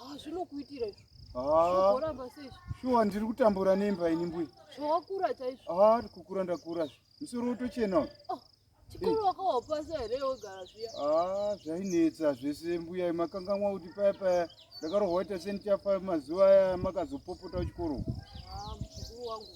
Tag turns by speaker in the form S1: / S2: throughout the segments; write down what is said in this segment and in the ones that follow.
S1: Ah, zvinokuitira izvo. Ah. Zvoramba sei? Shuwa ndiri kutambura nemba ini mbuya. Zvawakura chaizvo. Ah, kukura ndakura zve. Musoro utochena. Oh. Chikuru wakawapasa here wogara zviya? Ah, zvainetsa zvese mbuya makangamwa kuti paya paya ndakarohwa ita senichafa mazuva aya makazopopota kuchikoro. Ah, mukuru wangu.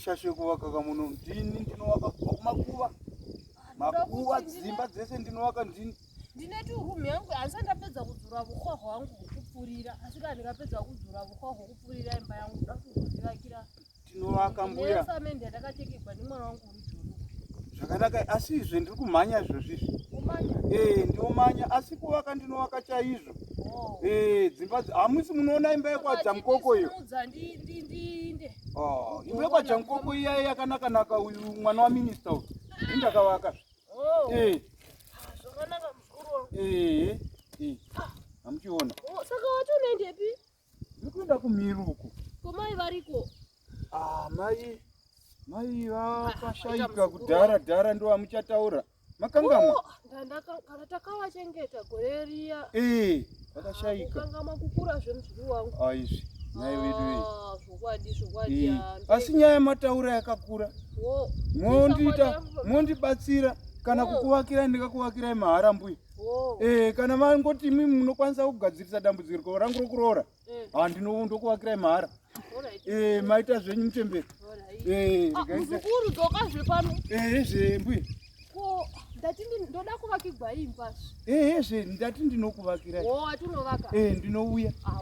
S1: shashe kuvaka kamuno ndini ndinovaka kubva kumakuva makuva dzimba dzese ndinovaka ndini ndine turumu yangu asi ndapedza kudzura vuhwa hwangu hwekupfurira asi kana ndikapedza kudzura vuhwa hwekupfurira imba yangu ndakuzoivakira tinovaka mbuya samende yatakatekegwa nemwana wangu uri juru zvakanaka asi izve ndiri kumhanya izvozvizvi umanya ee ndiomanya asi kuvaka ndinovaka chaizvo oh ee dzimba dzi- hamusi munoona imba yekwadza mukoko iyo Udza ndi ndi ndinde Oh, imba yekwadza mukoko iyaye yakanakanaka uyu mwana waminista uyu ini ndakavaka oh ee zvakanaka mukuru wangu ee ee hamuchiona oh saka wati unoendepi Ndikuenda kumhiri uko. Ko mai variko? Ah, mai mai vakashaika ah, kudhara dhara ndo amuchataura. Makangamwa. Oh, ndandaka kana takavachengeta gore riya. Eh, vakashaika. Ah, Makangamwa kukura zvemuzukuru wangu. Ah, izvi. Mai wedu iyi. Ah, zvokwadi zvokwadi. Eh, asi nyaya mataura yakakura. Wo. Oh, Mondiita mondibatsira kana oh. kukuvakirai ndikakuvakirai mahara mbuya. Oh. Eh, kana mangoti imi munokwanisa kugadzirisa dambudziko rangu rokuroora eh. ha ndinokuvakirai mahara eh, maita zvenyu muchemberi eh, ah, muzukuru dzoka zve pano zve mbuya ndati ndoda kuvakigwa imba ehe zve ndati ndinokuvakirai oh, ndinouya ah,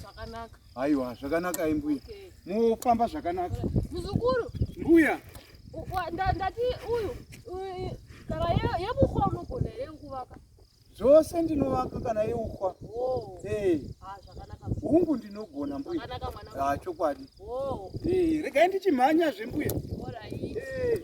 S1: zvakanaka Aiwa, zvakanaka ai mbuya. Mofamba zvakanaka. Muzukuru. Mbuya. Ndati uyu kana yebukhwa unogona here kuvaka? Zvose ndinovaka kana yeukhwa. Oh. Eh. Ah, zvakanaka. Hungu ndinogona mbuya. Zvakanaka mwana. Ah, chokwadi. Oh. Eh, regai ndichimhanya zve mbuya. All right. Eh.